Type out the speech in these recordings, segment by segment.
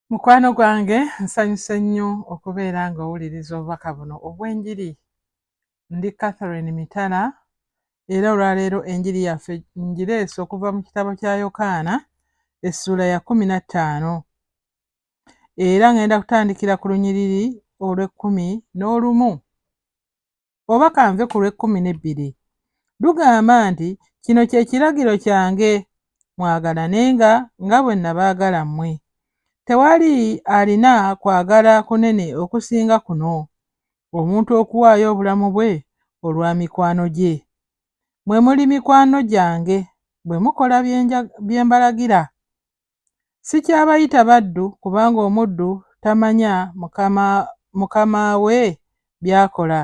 mukwano gwange nsanyuse nnyo okubeera nga owuliriza obubaka buno obw'enjiri ndi catherine mitala era olwaleero enjiri yaffe njireese okuva mu kitabo kya yokaana essuula ya kumi na ttaano era ngenda kutandikira ku lunyiriri olw'ekkumi n'olumu oba kanve ku lw'ekkumi n'ebbiri. Lugamba nti, Kino kye kiragiro kyange, mwagalanenga nga bwe nabaagala mmwe. Tewali alina kwagala kunene okusinga kuno, omuntu okuwaayo obulamu bwe olwa mikwano gye. Mmwe muli mikwano gyange bwe mukola bye mbalagira. Sikyabayita baddu kubanga omuddu tamanya mukama, mukama we by'akola,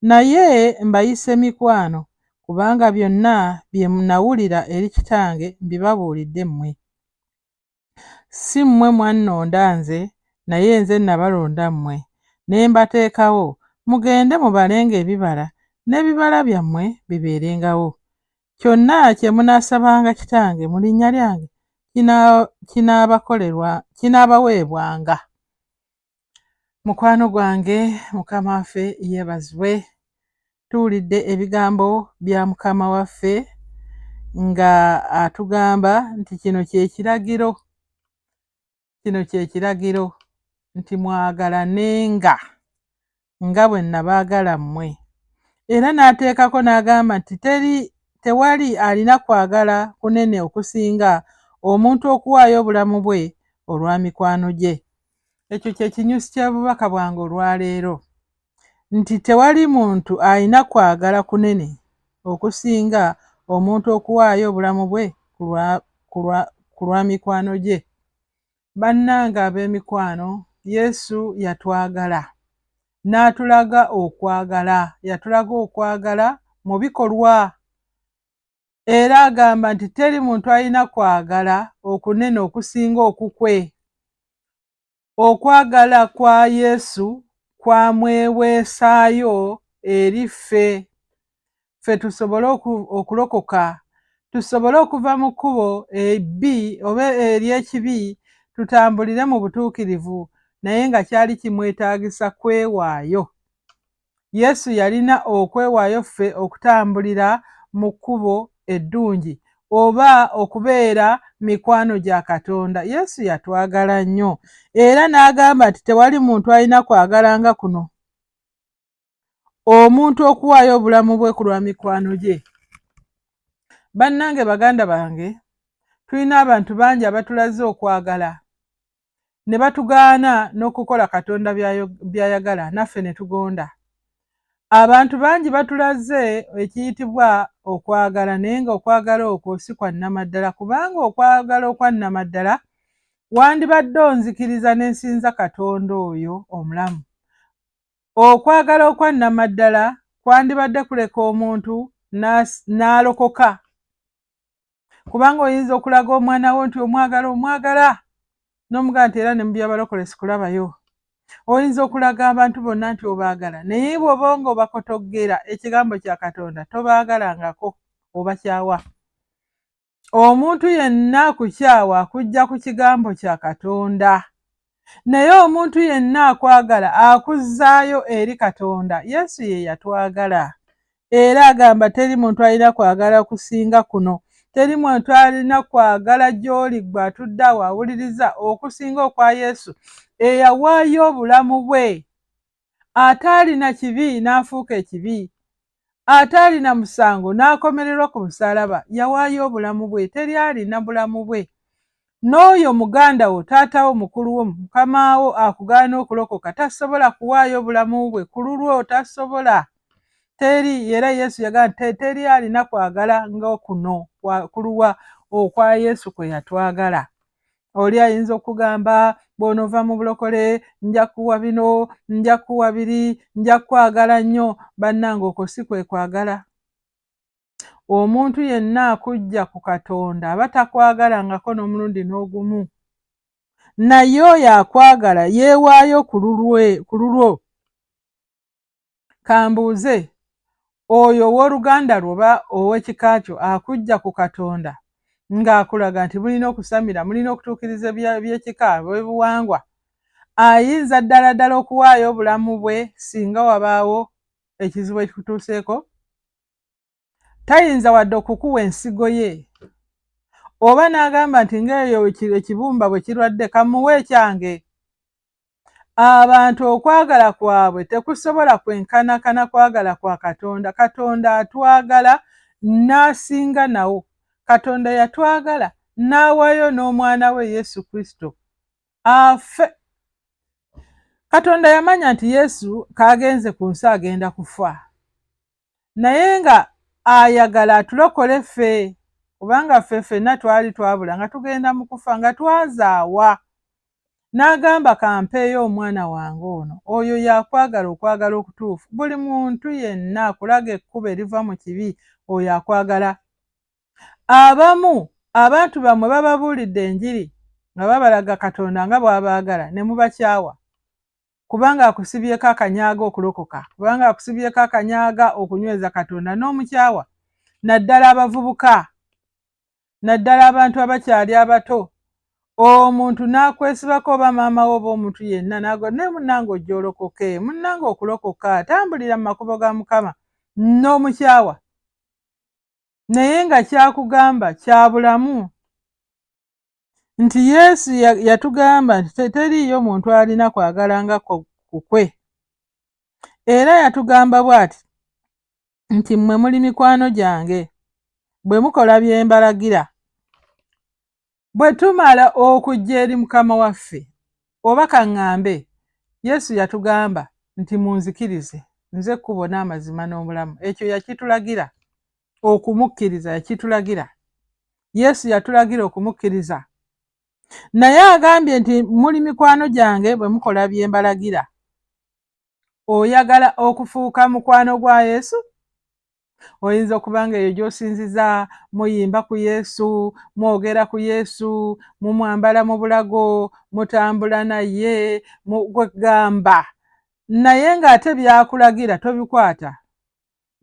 naye mbayise mikwano kubanga byonna bye nawulira eri kitange mbibabuulidde mmwe. Si mmwe mwannonda nze, naye nze nabalonda mmwe, ne mbateekawo mugende mubalenga ebibala, n'ebibala byammwe bibeerengawo. Kyonna kye munaasabanga Kitange mu linnya lyange kinaabakolerwa, kinaabaweebwanga. Mukwano gwange, Mukama waffe yeebazibwe. Tuwulidde ebigambo bya Mukama waffe nga atugamba nti kino kye kiragiro. Kino kye kiragiro nti mwagalanenga nga bwe nabaagala mmwe. Era n'ateekako n'agamba nti teri tewali alina kwagala kunene okusinga omuntu okuwaayo obulamu bwe olwa mikwano gye. Ekyo kye kinyusi ky'obubaka bwange olwaleero. nti tewali muntu alina kwagala kunene okusinga omuntu okuwaayo obulamu bwe ku lwa mikwano gye. Bannange ab'emikwano, Yesu yatwagala n'atulaga okwagala. Yatulaga okwagala mu bikolwa. Era agamba nti teri muntu alina kwagala okunene okusinga okukwe. Okwagala kwa Yesu kwamweweesaayo eri ffe, ffe tusobole okulokoka, tusobole okuva mu kkubo ebbi oba ery'ekibi tutambulire mu butuukirivu, naye nga kyali kimwetaagisa kwewaayo. Yesu yalina okwewaayo ffe okutambulira mu kkubo eddungi oba okubeera mikwano gya Katonda. Yesu yatwagala nnyo era n'agamba nti tewali muntu alina kwagala nga kuno, omuntu okuwaayo obulamu bwe ku lwa mikwano gye. Bannange baganda bange, tulina abantu bangi abatulaze okwagala. ne batugaana n'okukola Katonda by'ayagala naffe ne tugonda. Abantu bangi batulaze ekiyitibwa okwagala naye ng'okwagala okwo si kwa nnamaddala kubanga okwagala okwa nnamaddala wandibadde onzikiriza ne nsinza Katonda oyo omulamu. Okwagala okwa nnamaddala kwandibadde kuleka omuntu n'alokoka. kubanga oyinza okulaga omwana wo nti omwagala omwagala n'omugaa nti era ne mu byabalokole sikulabayo oyinza okulaga abantu bonna nti obaagala naye bwoba nga obakotoggera ekigambo kya katonda tobaagalangako obakyawa omuntu yenna akukyawa akujja ku kigambo kya katonda naye omuntu yenna akwagala akuzzaayo eri katonda yesu ye yatwagala era agamba teri muntu alina kwagala kusinga kuno teri muntu alina kwagala gy'oli gwe atudde awo awuliriza okusinga okwa yesu eyawaayo obulamu bwe ataalina kibi n'afuuka ekibi ataalina musango n'akomererwa ku musalaba yawaayo obulamu bwe teri alina bulamu bwe n'oyo muganda wo taata wo mukulu wo mukama wo akugaana okulokoka tasobola kuwaayo obulamu bwe ku lulwo tasobola teri era yesu yagamba nti teri alina kwagala nga kuno kuluwa okwa yesu kwe yatwagala oli ayinza okugamba bw'onova mu bulokole nja kuwa bino nja kuwa biri nja kwagala nnyo bannanga okwo si kwe kwagala omuntu yenna akujja ku katonda aba takwagala ngako n'omulundi n'ogumu naye oyo akwagala yeewaayo ku lulwo kambuuze oyo ow'oluganda lwo oba ow'ekika kyo akujja ku katonda ng'akulaga nti mulina okusamira mulina okutuukiriza by'ekika bwebuwangwa ayinza ddala ddala okuwaayo obulamu bwe singa wabaawo ekizibu ekikutuuseeko tayinza wadde okukuwa ensigo ye oba n'agamba nti ng'eyo ekibumba bwe kirwadde kamuwe ekyange abantu okwagala kwabwe tekusobola kwenkanakana kwagala kwa katonda katonda atwagala n'asinga nawo katonda yatwagala n'awayo n'omwana we yesu kristo afe katonda yamanya nti yesu kaagenze ku nsi agenda kufa naye nga ayagala atulokole ffe kubanga ffe ffenna twali twabula nga tugenda mu kufa nga twazaawa n'agamba kampeeyo omwana wange ono oyo yakwagala okwagala okutuufu buli muntu yenna akulaga ekkubo eriva mu kibi oyo akwagala abamu abantu bammwe bababuulidde enjiri nga babalaga katonda nga bw'abaagala ne mubakyawa kubanga akusibyeko akanyaaga okulokoka kubanga akusibyeko akanyaaga okunyweza katonda n'omukyawa naddala abavubuka naddala abantu abakyali abato omuntu n'akwesibako oba maama wo oba omuntu yenna nago naye munnange ojja olokoke munnange okulokoka tambulira mu makubo ga mukama n'omukyawa naye nga kyakugamba kya bulamu nti Yesu yatugamba nti teriiyo muntu alina kwagala nga kukwe. Era yatugamba bw'ati nti mmwe muli mikwano gyange bwe mukola bye mbalagira. Bwe tumala okujja eri Mukama waffe, oba kaŋŋambe, Yesu yatugamba nti munzikirize, nze kkubo n'amazima n'obulamu. Ekyo yakitulagira. okumukkiriza yakitulagira yesu yatulagira okumukkiriza naye agambye nti muli mikwano gyange bwe mukola bye mbalagira oyagala okufuuka mukwano gwa yesu oyinza okuba nga eyo gy'osinziza muyimba ku yesu mwogera ku yesu mumwambala mu bulago mutambula naye gwegamba naye ng'ate byakulagira tobikwata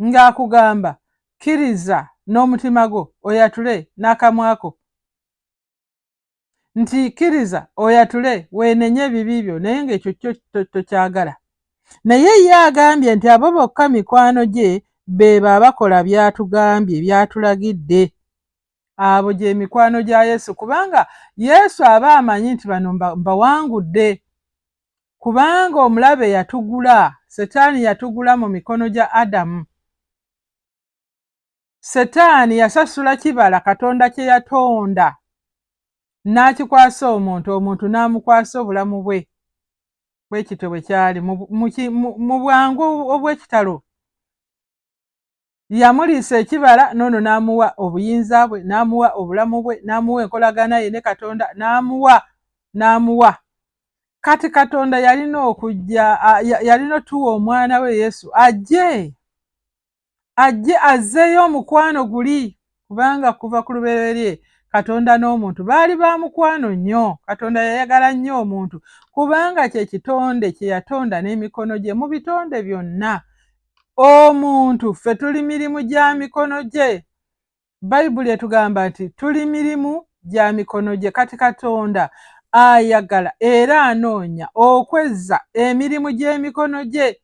ng'akugamba kkiriza n'omutima gwo oyatule n'akamwako nti kkiriza oyatule weenenye ebibi byo naye ng'ekyo kyo tokyagala naye ye agambye nti abo bokka mikwano gye beebo abakola by'atugambye by'atulagidde abo gye mikwano gya yesu kubanga yesu aba amanyi nti bano mbawangudde Kubanga omulabe yatugula, Setaani yatugula mu mikono gya Adamu. Setaani yasasula kibala Katonda kye yatonda n'akikwasa omuntu, omuntu n'amukwasa obulamu bwe. Bwe kityo bwe kyali mu bwangu obw'ekitalo. yamuliisa ekibala noono n'amuwa obuyinza bwe n'amuwa obulamu bwe n'amuwa enkolagana ye ne katonda n'amuwa n'amuwa kati katonda yalina okujja yalina otuwa omwana we yesu ajje ajje azzeeyo omukwano guli kubanga kuva ku lubereberye katonda n'omuntu baali ba mukwano nnyo katonda yayagala nnyo omuntu kubanga kye kitonde kye yatonda n'emikono gye mu bitonde byonna omuntu ffe tuli mirimu gya mikono gye bayibuli etugamba nti tuli mirimu gya mikono gye kati katonda ayagala era anoonya okwezza emirimu gy'emikono gye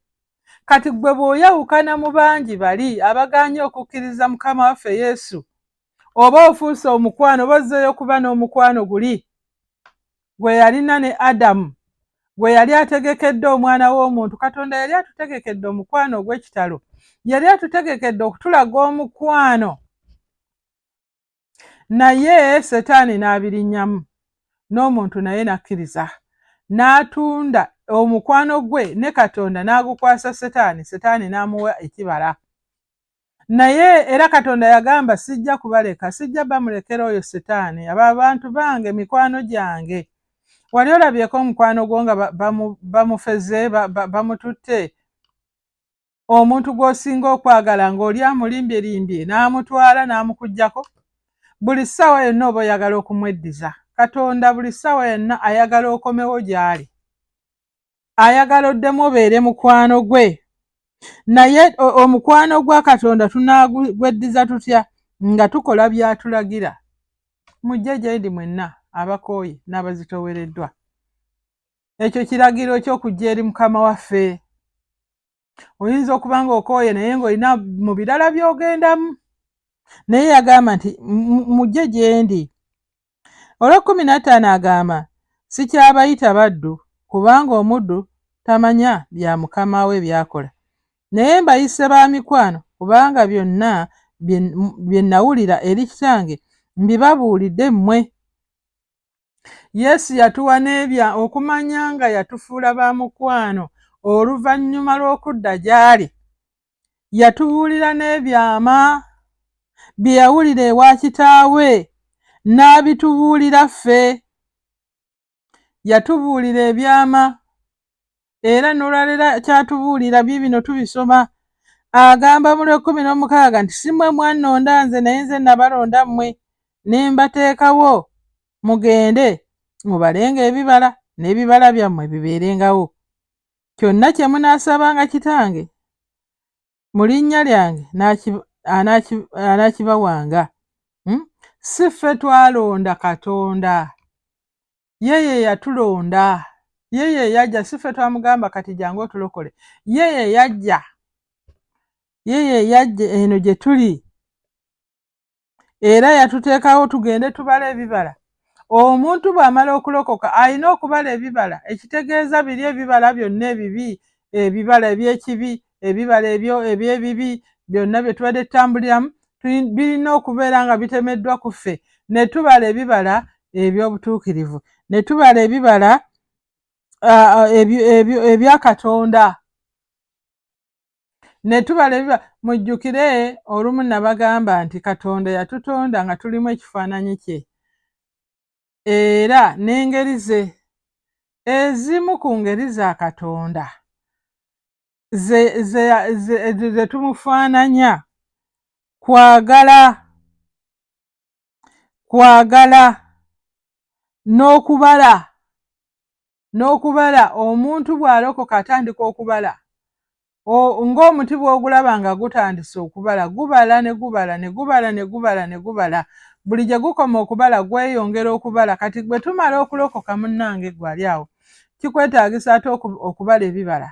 kati ggwe bw'oyawukana mu bangi bali abagaanye okukkiriza mukama waffe yesu oba ofuuse omukwano oba ozzeeyo okuba n'omukwano guli gwe yalina ne adamu gwe yali ategekedde omwana w'omuntu katonda yali atutegekedde omukwano ogw'ekitalo yali atutegekedde okutulaga omukwano naye setaani n'abirinnyamu n'omuntu naye n'akkiriza n'atunda omukwano gwe ne katonda n'agukwasa setaani setaani n'amuwa ekibala naye era katonda yagamba sijja kubaleka sijja bamulekera oyo setaani abo abantu bange mikwano gyange wali olabyeko omukwano gwo nga bamufeze bamututte omuntu gw'osinga okwagala ng'oli amulimbyerimbye n'amutwala n'amukuggyako buli ssaawa yonna oba oyagala okumweddiza katonda buli ssaawa yonna ayagala okomewo gy'ali ayagala oddemu obeere mukwano gwe naye omukwano gwa katonda tunaagweddiza tutya nga tukola by'atulagira mujje gyendi mwenna abakooye n'abazitowereddwa ekyo kiragiro ky'okujja eri mukama waffe oyinza okuba nga okooye naye ng'olina mu birala by'ogendamu naye yagamba nti mujje gyendi olw'ekkumi nattaano agamba sikyabayita baddu kubanga omuddu tamanya bya mukama we byakola naye mbayise ba mikwano kubanga byonna bye nawulira eri kitange mbibabuulidde mmwe Yesu yatuwa n'ebya okumanya nga yatufuula ba mukwano oluvannyuma lw'okudda gy'ali. Yatubuulira n'ebyama bye yawulira ewa kitaawe n'abitubuulira ffe. Yatubuulira ebyama era nolwalera kyatubuulira bye bino tubisoma agamba mu lwekumi n'omukaaga nti si mwe mwannonda nze naye nze nabalonda mmwe ne mbateekawo mugende mubalenga ebibala n'ebibala byammwe bibeerengawo kyonna kye munaasabanga kitange mu linnya lyange anaakibawanga. Hmm? Si ffe twalonda Katonda, ye ye yatulonda, ye ye yajja. Si ffe twamugamba kati jangu otulokole, ye ye yajja, ye ye yajja eno gye tuli. era yatuteekawo tugende tubala ebibala omuntu bw'amala okulokoka alina okubala ebibala ekitegeeza biri ebibala byonna ebibi ebibala eby'ekibi ebibala ebyo eby'ebibi byonna bye tubadde tutambuliramu birina okubeera nga bitemeddwa ku ffe ne tubala ebibala eby'obutuukirivu ne tubala ebibala ebya katonda ne tubala ebiba mujjukire olumu nabagamba nti katonda yatutonda nga tulimu ekifaananyi kye era n'engeri ze ezimu ku ngeri za katonda ze tumufaananya kwagala kwagala n'okubala n'okubala omuntu bw'alokoka atandika okubala ng'omuti bw'ogulaba nga gutandise okubala gubala ne gubala ne gubala ne gubala ne gubala buli gye gukoma okubala gweyongera okubala kati gwe tumala okulokoka munnange gwali awo kikwetaagisa ate okubala ebibala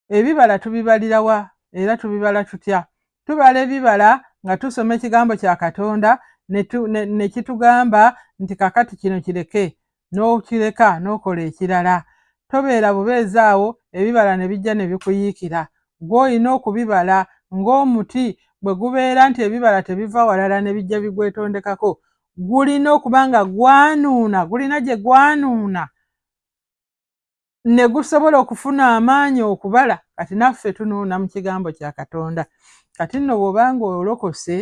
Ebibala tubibalira wa era tubibala tutya? Tubala ebibala nga tusoma ekigambo kya Katonda ne kitugamba nti kakati kino kireke n'okireka n'okola ekirala. Tobeera bubeezi awo ebibala ne bijja ne bikuyiikira. Gwe olina okubibala ng'omuti bwe gubeera nti ebibala tebiva walala ne bijja bigwetondekako. Gulina okuba nga gwanuuna, gulina gye gwanuuna. ne gusobola okufuna amaanyi okubala kati naffe tunuuna mu kigambo kya katonda kati nno bw'obanga olokose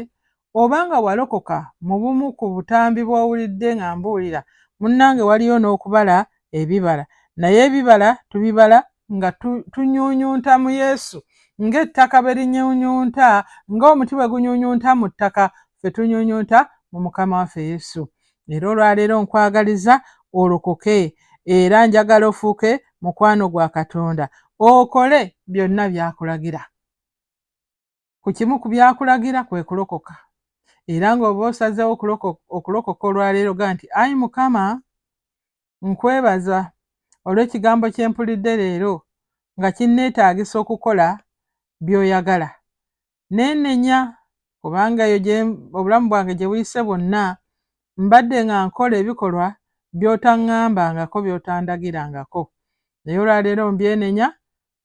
obanga walokoka mu bumu ku butambi bw'owulidde nga mbuulira munnange waliyo n'okubala ebibala naye ebibala tubibala nga tunyunyunta mu yesu ng'ettaka bwe linyunyunta ng'omuti bwe gunyunyunta mu ttaka fe tunyunyunta mu mukama waffe yesu Era olwaleero nkwagaliza olokoke era njagala ofuuke mukwano gwa Katonda okole byonna by'akulagira. Ku kimu ku by'akulagira kwe kulokoka. Era ng'oba osazeewo okulokoka olwaleero ga nti, Ayi Mukama, nkwebaza olw'ekigambo kye mpulidde leero nga kinneetaagisa okukola by'oyagala. neenenya kubanga eyo gye obulamu bwange gye buyise bwonna mbadde nga nkola ebikolwa by'otaŋŋambangako by'otandagirangako naye olwaleero mbyenenya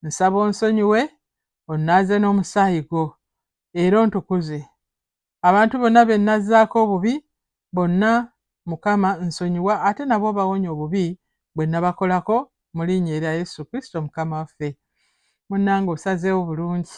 nsaba onsonyiwe onnaaze n'omusaayi gwo era ontukuze abantu bonna be nnazzaako obubi bonna Mukama nsonyiwa ate nabo obawonye obubi bwenabakolako mulinya erya Yesu Kristo Mukama waffe. Munange osazeewo bulungi.